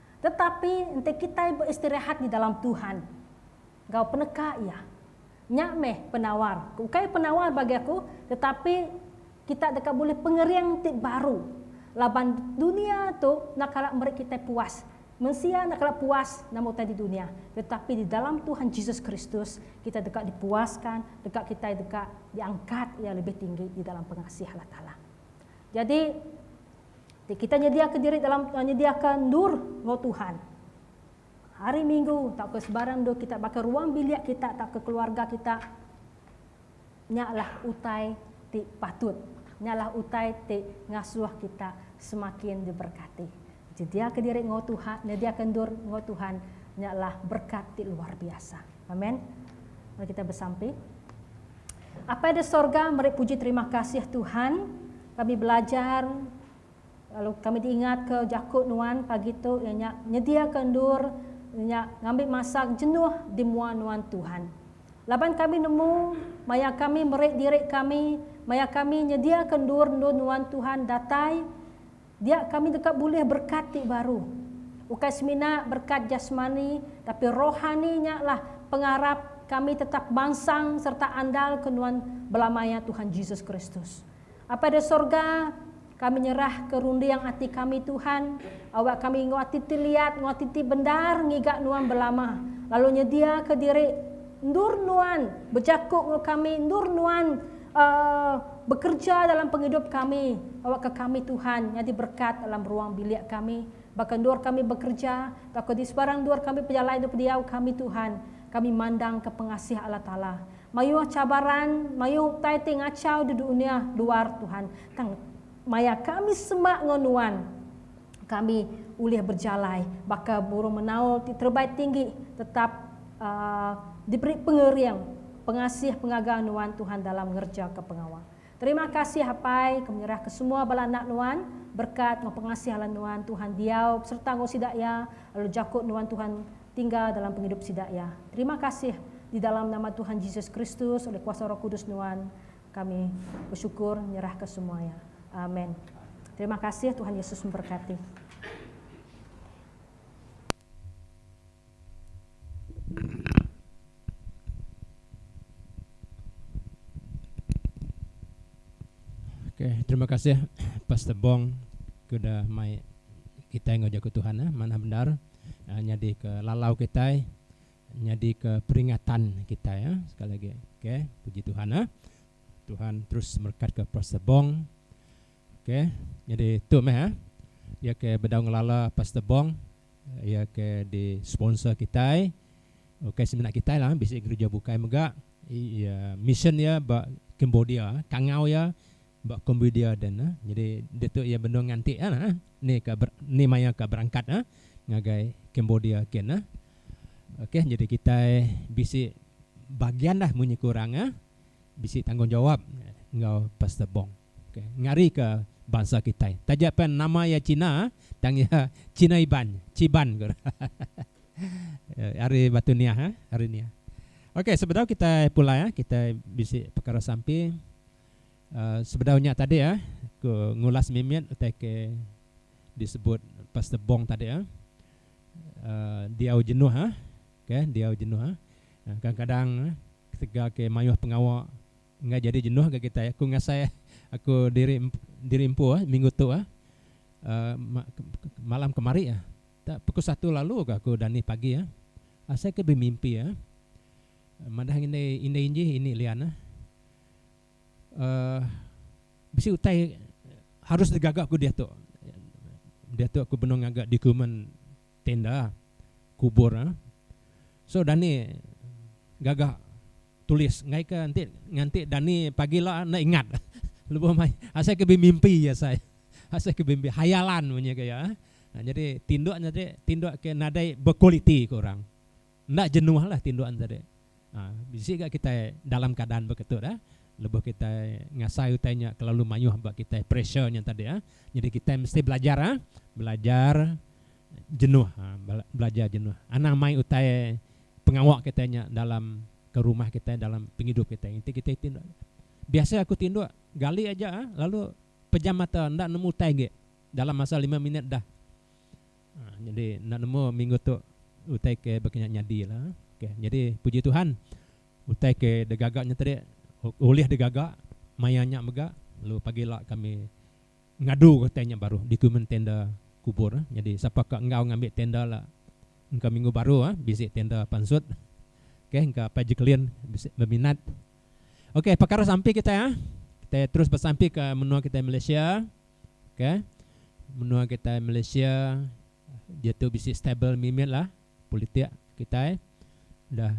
Speaker 3: Tetapi enti kitai beistirahat di dalam Tuhan enggau peneka Iya, nya meh penawar, ukai penawar bagi aku, tetapi kita deka bulih pengering ti baru laban dunia tu enda kala meri kitai puas. Mensia enda kala puas nama utai di dunia, tetapi di dalam Tuhan Jesus Kristus kita deka dipuaska deka kitai deka diangkat Iya lebih tinggi di dalam pengasih Allah Taala. Jadi. Ti kita nyediaka diri dalam nyediaka endur enggau Tuhan. Hari Minggu tauka sebarang endur kita baka ruang bilik kita tauka keluarga kita nya lah utai ti patut. Nya lah utai ti ngasuh kita semakin diberkati. Nyediaka diri enggau Tuhan, nyediaka endur enggau Tuhan nya lah berkat ti luar biasa. Amen. Mari kita besampi. Apai di sorga, meri puji terima kasih Tuhan. Kami belajar lalu kami diingatka jaku nuan pagi tu iya nya nyediaka endur nya ngambi masa jenuh di mua nuan Tuhan. Laban kami nemu maya kami meri diri kami maya kami nyediaka endur-endur nuan Tuhan datai dia kami deka bulih berkat ti baru. Ukai semina berkat jasmani tapi rohani nya lah pengarap kami tetap mansang sereta andalka nuan bela maya Tuhan Jesus Kristus. Apai da Sorga, kami nyerah ke runding ati kami Tuhan, awak kami enggau ati ti liat enggau ati ti bendar ngiga Nuan belama, lalu nyedia ke diri endur Nuan bejaku enggau kami, endur Nuan Uh bekerja dalam pengidup kami, awak ke kami Tuhan nyadi berkat dalam ruang bilik kami, baka endur kami bekerja, tauka di sebarang endur kami pejalai endur pendiau kami Tuhan, kami mandang ke pengasih Allah Taala, Mayuh cabaran, mayuh utai ti ngachau di dunya luar Tuhan, tang maya kami semak enggau Nuan, kami ulih bejalai baka burung menaul ti terebai tinggi tetap diberi pengering pengasih pengaga Nuan Tuhan dalam ngerejaka pengawa. Terima kasih Apai ke menyerah ke semua bala anak nuan, berkat enggau pengasih ala nuan Tuhan diau beserta enggau sida iya lalu jako nuan Tuhan tinggal dalam pengidup sida iya. Terima kasih di dalam nama Tuhan Jesus Kristus oleh kuasa roh kudus nuan kami bersyukur nyerah ke semua iya. Amen. Terima kasih Tuhan Yesus memberkati.
Speaker 1: Okay, terima kasih Pastor Bong ke udah mai kitai enggau Jaku Tuhan eh. Manah bendar eh, nyadika lalau kitai, nyadika peringatan kitai eh. Sekali lagi. Okay, puji Tuhan eh. Tuhan terus merekatka Pastor Bong. Okay, jadi tu meh eh. Ya ke bedau ngelala Pastor Bong. Iya ke di sponsor kitai ukai semina kitai lah bisi gereja bukai mega iya mission iya ba Cambodia kangau iya ba Cambodia den ah nyadi ditu iya benung nganti ah nah ni ka ni maya ka berangkat ah ngagai Cambodia kin ah ok nyadi kitai bisi bagian lah munyi kurang ah bisi tanggungjawab enggau Pastor Bong. ngarika bansa kitai. Taja pen nama iya China tang iya China Iban, Chiban ku orang. Ari Batu Niah eh, ari nia. Okey sebedau kitai pulai eh kitai bisi pekara sampi sebedau nya tadi eh ku ngulas mimit utai ke disebut Pastor Bong tadi eh diau jenuh eh, okey diau jenuh eh. Kadang-kadang ketegal ke mayuh pengawa. Enggai jadi jenuh ga kitai. Aku ngasai aku diri diri empu ah minggu tu ah malam kemari ah. Tau pukul satu lalu ga aku dani pagi ah. Asai ke bemimpi ah. Madah ngan indai indai inji ini lian ah. Uhh bisi utai harus digaga ku diatu. Diatu aku benung ngaga dokumen. Tenda, kubur ah. So dani gaga tulis enggai ke enti nganti dani pagi ila enda ingat lebuh mai asai ke bimimpi asai. Asai ke bimimpi hayalan bunyi ke iya ah. Nyadi tinduk nya tadi tinduk ke nadai bekualiti ku orang. Enda jenuhlah tindukan sadi. Bisi ga kitai dalam keadaan beketu dah lebuh kitai ngasai utai nya kelalu mayuh ba kitai pressure nya tadi. Nyadi kitai mesti belajar belajar jenuh belajar jenuh anang mai utai pengawa kitai nya dalam ke rumah kitai dalam pengidup kitai enti kitai ti enda. Biasa aku tinduk gali aja lalu pejam mata enda nemu utai agi dalam masa lima minit dah. Nyadi enda nemu minggu tu utai ke baka nya nyadi la. Ok nyadi puji Tuhan utai ke digaga nya tadi ulih digaga maya nya mega lalu pagi ila kami ngadu ga utai nya baruh dikumen tenda kubur. Nyadi sapa ka enggau ngambi tenda la engka minggu baru bisi tenda pansut ok engka apai Jacqueline bisi beminat. Ok pekara sampi kitai kitai terus besampi ke menua kitai Malaysia. Ke menua kitai Malaysia diatu bisi stable mimit lah politik kitai udah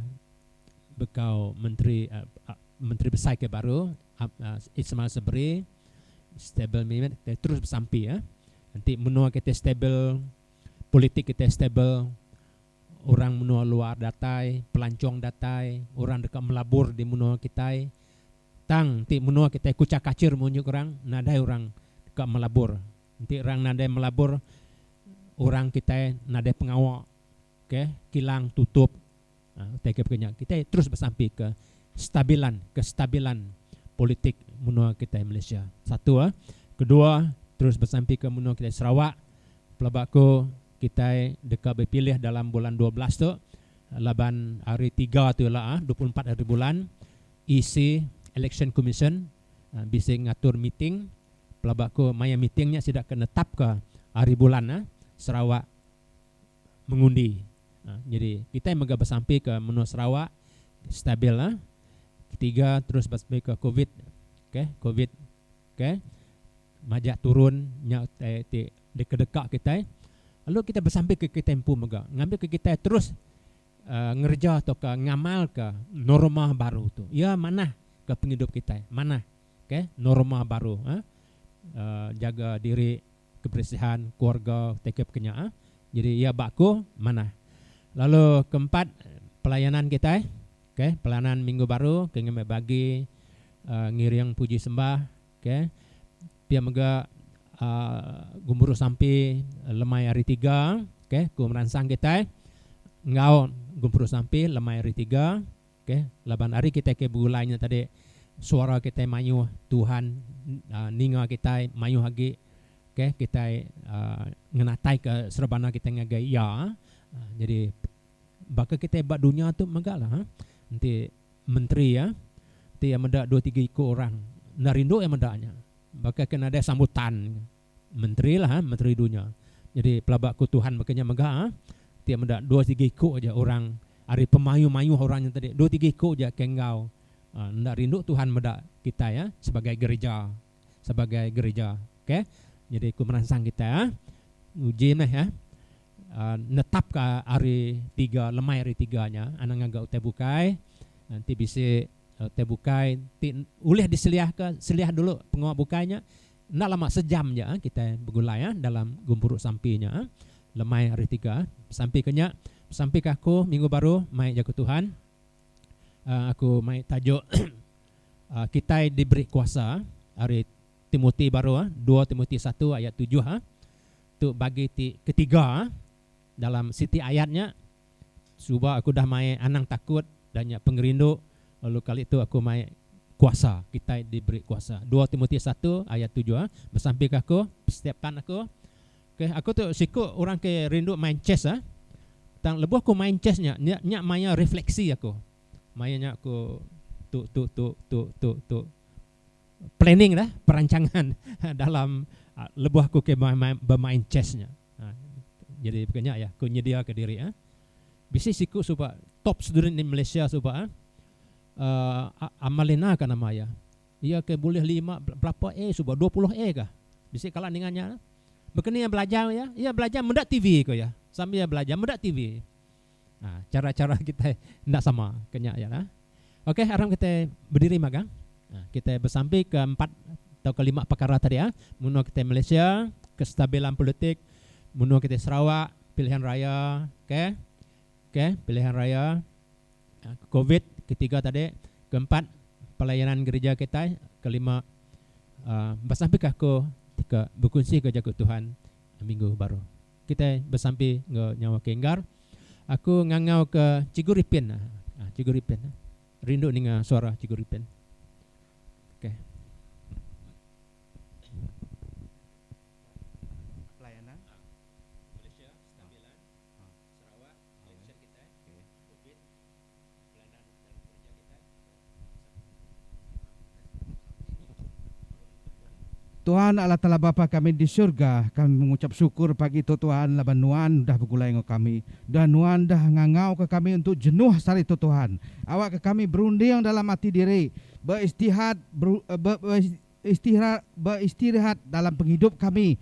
Speaker 1: begkau menteri menteri besai ke baru Ismail Sabri stable mimit kitai terus besampi enti menua kitai stable politik kitai stable Orang menua luar datai, pelancong datai, orang deka melabur di menua kitai. Tang enti menua kitai kuchar kachir meh unjuk orang, nadai orang deka melabur. Enti orang nadai melabur, orang kitai nadai pengawa ke kilang tutup. Utai ke pagi nya, kitai terus besampi ke stabilan, kestabilan politik menua kitai Malaysia. Satu. Kedua, terus besampi ke menua kitai Sarawak. Pelaba ku, Kitai deka bepilih dalam bulan dua belas tu laban hari tiga tu ila ah dua puluh empat hari bulan EC, Election Commission, bisi ngatur meeting pelaba ku maya meeting nya sida ke netapka hari bulan ah Sarawak mengundi. Nyadi kitai mega besampi ke menua Sarawak stabil ah ketiga terus besampi ke covid okay covid. Okey. Majak turun nya utai ti dikedeka kitai lalu kitai besampika kitai empu mega ngambika kitai terus Uh, ngereja tauka ngamalka norma baru tu. Iya manah ke pengidup kitai. Manah. Okey, norma baru. Ha? Uh, jaga diri, keberesihan keluarga teka pekenyaa jadi iya ba aku manah lalu keempat pelayanan kitai ok pelayanan minggu baru ke ngambi bagi ngiring puji sembah ok pia mega gemburu sampi lemai hari tiga ok ku meransang kitai enggau gempuru sampi lemai hari tiga. Okey, laban ari kitai ke begulai nya tadi, suara kitai mayuh, Tuhan ninga kitai mayuh agi. Okey, kitai ngenataika serebana kitai ngagai Iya. Nyadi, baka kitai ba dunya tu megalah, enti menteri ti iya meda dua tiga iku orang, enda rindu iya meda nya. Baka ke nadai sambutan. Menteri lah eh menteri dunya. Nyadi pelaba aku Tuhan baka nya mega eh. Ti meda dua tiga iko aja orang ari pemayuh-mayuh orang nya tadi dua tiga iko aja ke enggau eh enda rindu Tuhan meda kitai eh sebagai gereja sebagai gereja ok. Nyadi aku meransang kitai eh nguji meh eh netap ka hari tiga lemai hari tiga nya anang ngaga utai bukai enti bisi utai bukai ti ulih diseliah ka seliah dulu pengawa bukai nya. Enda lama sejam ja kitai begulai dalam gempuru sampi nya lemai hari tiga. Sampi ke nya sampi ke aku minggu baru mai jaku Tuhan. Aku mai tajuk kitai diberi kuasa ari Timoti baru dua Timoti satu ayat tujuh tu bagi ti ketiga. Dalam siti ayat nya, Suba aku udah mai anang takut dan nya pengerindu, lalu kali tu aku mai kuasa, kitai diberi kuasa. Dua Timoti satu ayat tujuh ah, Besampi ke aku, setiap tan aku. Okey, aku tu siku orang ke rindu main chess ah. Tang lebuh aku main chess nya, nya maya refleksi aku. Maya nya aku tu tu tu tu tu tu planning dah, perancangan dalam lebuh aku ke bemain chess nya. Jadi baka nya iya, ku nyediaka diri. Bisi siku suba top student di Malaysia suba Amalina ka nama iya. Iya ke bulih lima belapa A suba, dua puluh A ka. Bisi kala ninga nya. Baka ni iya belajar iya? Iya belajar meda TV ku iya. Sambil iya belajar meda TV. Chara-chara kitai enda sama ke nya ialah okey aram kitai bediri magang kitai besampi ke empat tauka lima pekara tadi menua kitai Malaysia kestabilan politik menua kitai Sarawak pilihan raya okey okey pilihan raya covid ketiga tadi keempat pelayanan gerija kitai kelima besampika aku ti ke bekunsika jaku Tuhan minggu baru. Kitai besampi enggau nyawa ke enggar. Aku ngangau ke Cikgu Ripin ah ah Cikgu Ripin ah. Rindu ninga suara Cikgu Ripin. Okay.
Speaker 4: Pelayanan. Malaysia,
Speaker 1: Stabilan, Sarawak, Pension kitai, Covid. Peranan
Speaker 4: dan kereja kitai Tuhan Allah Taala Bapa kami di surga, kami mengucap syukur pagi tu Tuhan laban Nuan udah begulai enggau kami dan Nuan dah ngangauka kami untuk jenuh sehari tu Tuhan. Awakka kami berunding dalam ati diri, beristihat, ber, ber, ber, Istira beistirahat dalam pengidup kami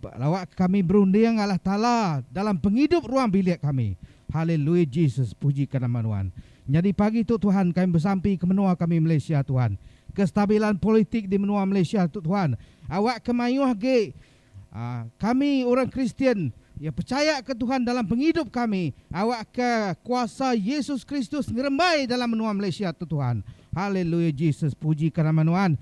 Speaker 4: lawakka kami berunding Allah Taala dalam pengidup ruang bilik kami. Haleluya Jesus pujika nama Nuan. Nyadi pagi tu Tuhan kami besampi ke menua kami Malaysia Tuhan. Kestabilan politik di menua Malaysia tu Tuhan awakka mayuh agi Kami orang Kristian iya pechayaka Tuhan dalam pengidup kami awakka kuasa Yesus Kristus ngerembai dalam menua Malaysia tu Tuhan. Haleluya Jesus pujika nama nuan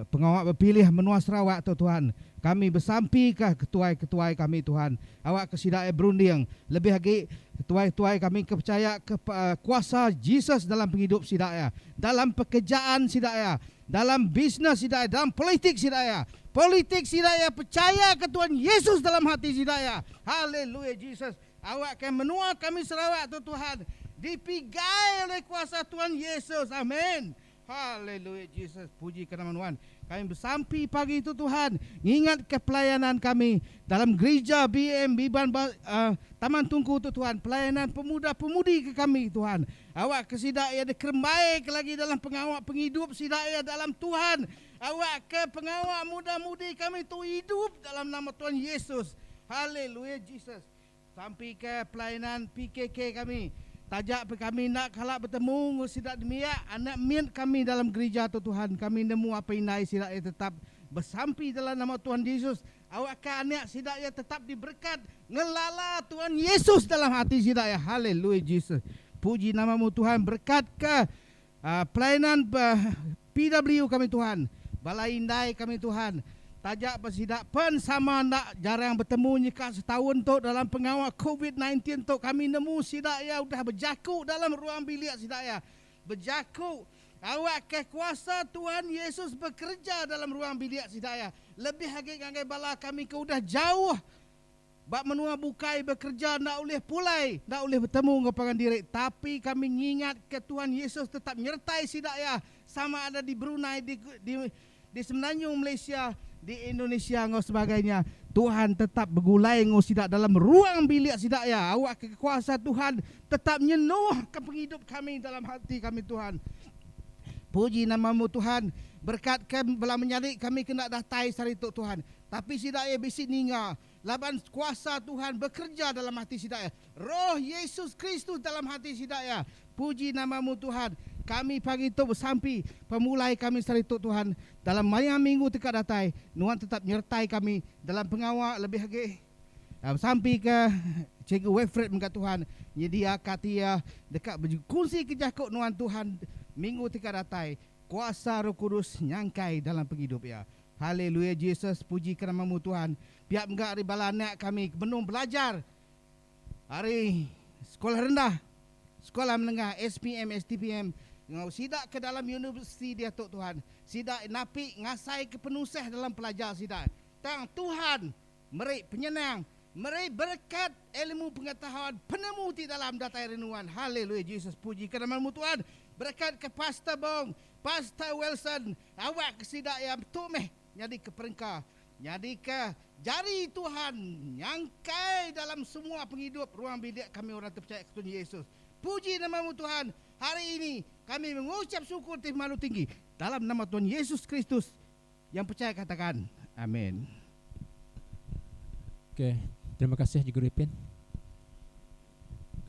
Speaker 4: pengawa bepilih menua Sarawak tu Tuhan. Kami besampika ketuai-ketuai kami Tuhan awakka sida iya berunding lebih agi ketuai-ketuai kami ke pechayaka kuasa Jesus dalam pengidup sida iya dalam pekejaan sida iya Dalam bisnes sida iya dalam politik sida iya. Politik sida iya pechaya ke Tuhan Yesus dalam hati sida iya. Haleluya Jesus. Awak ke menua kami Sarawak tu Tuhan dipigai oleh kuasa Tuhan Yesus. Amen. Haleluya Jesus. Puji ke nama Nuan. Kami besampi pagi tu Tuhan ngingat ke pelayanan kami dalam gerija BM Biban uh, Taman Tungku tu Tuhan. Pelayanan pemuda pemudi ke kami Tuhan. Awakka sida iya dikerembaika lagi dalam pengawa pengidup sida iya dalam Tuhan. Awakka pengawa mudah-mudi kami tu idup dalam nama Tuhan Yesus. Haleluya Jesus. Sampika pelainan PKK kami. Taja pia kami enda kala betemu enggau sida nembiak anak mit kami dalam gerija tu Tuhan, kami nemu apai indai sida iya tetap besampi dalam nama Tuhan Jesus Awakka anak sida iya tetap diberekat ngelala Tuhan Yesus dalam ati sida iya. Haleluya Jesus. Puji nama-Mu Tuhan, berekatka pelayanan PW kami Tuhan. Bala indai kami Tuhan, taja ba sida pen sama enda jarang betemu nyeka setaun tu dalam pengawa covid nineteen tu kami nemu sida iya udah bejaku dalam ruang bilik sida iya. Bejaku, Awakka kuasa Tuhan Yesus bekereja dalam ruang bilik sida iya, lebih agi ngagai bala kami ke udah jauh ba menua bukai bekereja enda ulih pulai, enda ulih betemu enggau pangan diri. Tapi kami ngingatka Tuhan Yesus tetap nyertai sida iya sama ada di Brunei, di, di Di Semenanjung Malaysia, di Indonesia enggau sebagainya nya, Tuhan tetap begulai enggau sida dalam ruang bilik sida iya. Awakka kekuasa Tuhan tetap nyenuhka pengidup kami dalam ati kami Tuhan. Puji nama-Mu Tuhan, berkatka bela menyadi kami kena datai sehari tu Tuhan. Tapi sida iya bisi ninga. Laban kuasa Tuhan bekereja dalam ati sida iya, Roh Yesus Kristus dalam ati sida iya. Puji nama-Mu, Tuhan. Kami pagi tu besampi pemulai kami sehari tu, Tuhan. Dalam maya minggu ti ka datai, Nuan tetap nyertai kami dalam pengawa lebih agi. Besampika Cikgu Wilfred mega, Tuhan, nyediaka ati iya deka bekunsika jaku Nuan, Tuhan, minggu ti ka datai. Kuasa Roh Kudus nyangkai dalam pengidup iya. Haleluya Jesus pujika namamu Tuhan pia mega ari bala anak kami ke benung belajar ari sekolah rendah sekolah menengah SPM STPM enggau sida ke dalam universiti diatu Tuhan sida napi ngasaika penusah dalam pelajar sida tang Tuhan Meri penyenang, meri berekat elmu pengetahuan penemu ti dalam datai renungan Haleluya Jesus pujika nama lemu Tuhan berekatka Pastor Bong, Pastor Wilson awakka sida iya metu meh nyadika perengka nyadika jari Tuhan nyangkai dalam semua pengidup ruang bidik kami orang tepechaya ketunyuh Jesus puji nama lemu Tuhan hari ini kami mengucap syukur ti pemalu tinggi dalam nama Tuhan Yesus Kristus Yang pechaya katakan, Amen.
Speaker 1: Ok, terima kasih Cikgu Ripin.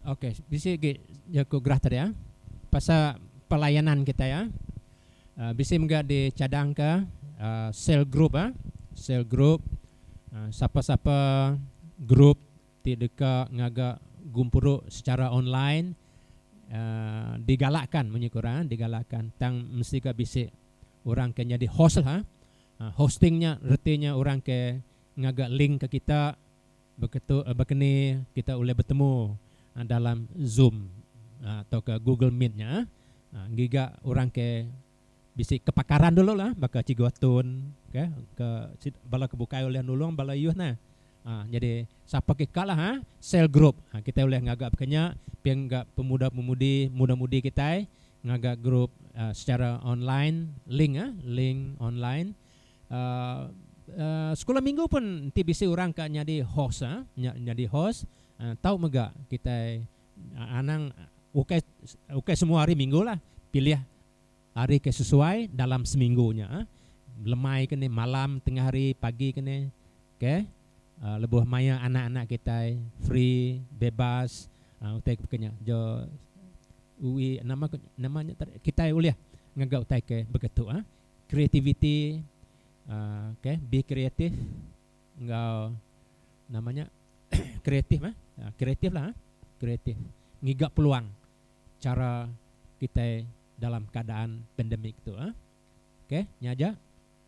Speaker 1: Ok, bisi agi ya ku gerah tadi ah pasal pelayanan kitai ah. Uh, bisi mega dicadangka uh, sel group ah, sel group uh, sapa-sapa group ti deka ngaga gumpuru secara online uh, digalakkan munyi ku orang ah, digalakkan tang mesti ga bisi orang ke nyadi host lah. Hosting nya reti nya orang ke ngaga link ke kita baka tu baka ni kita ulih betemu dalam zoom tauka google meet nya. Ngiga orang ke bisi kepakaran dulu lah baka Cikgu Atun ke ke bala ke bukai ulih nulung bala ayuh ne. Nyadi sapa ke ka lah cell group kita ulih ngaga baka nya pia ngaga pemuda pemudi muda mudi kitai ngaga group secara online link ah link online sekula minggu pun enti bisi orang ka nyadi host ah nya nyadi host tau mega kitai anang ukai ukai semua hari minggu lah pilih hari ke sesuai dalam seminggu nya ah lemai ke ni malam tengah hari pagi ke ni Ke, lebuh maia anak-anak kitai free, bebas, utai ke baka nya jo ui nama ko nama nya tadi kitai ulih ngaga utai ke baka tu ah creativity ke be creative enggau nama nya kreatif ah kreatif lah kreatif ngiga peluang chara kitai dalam keadaan pandemic tu ah. Ke nya aja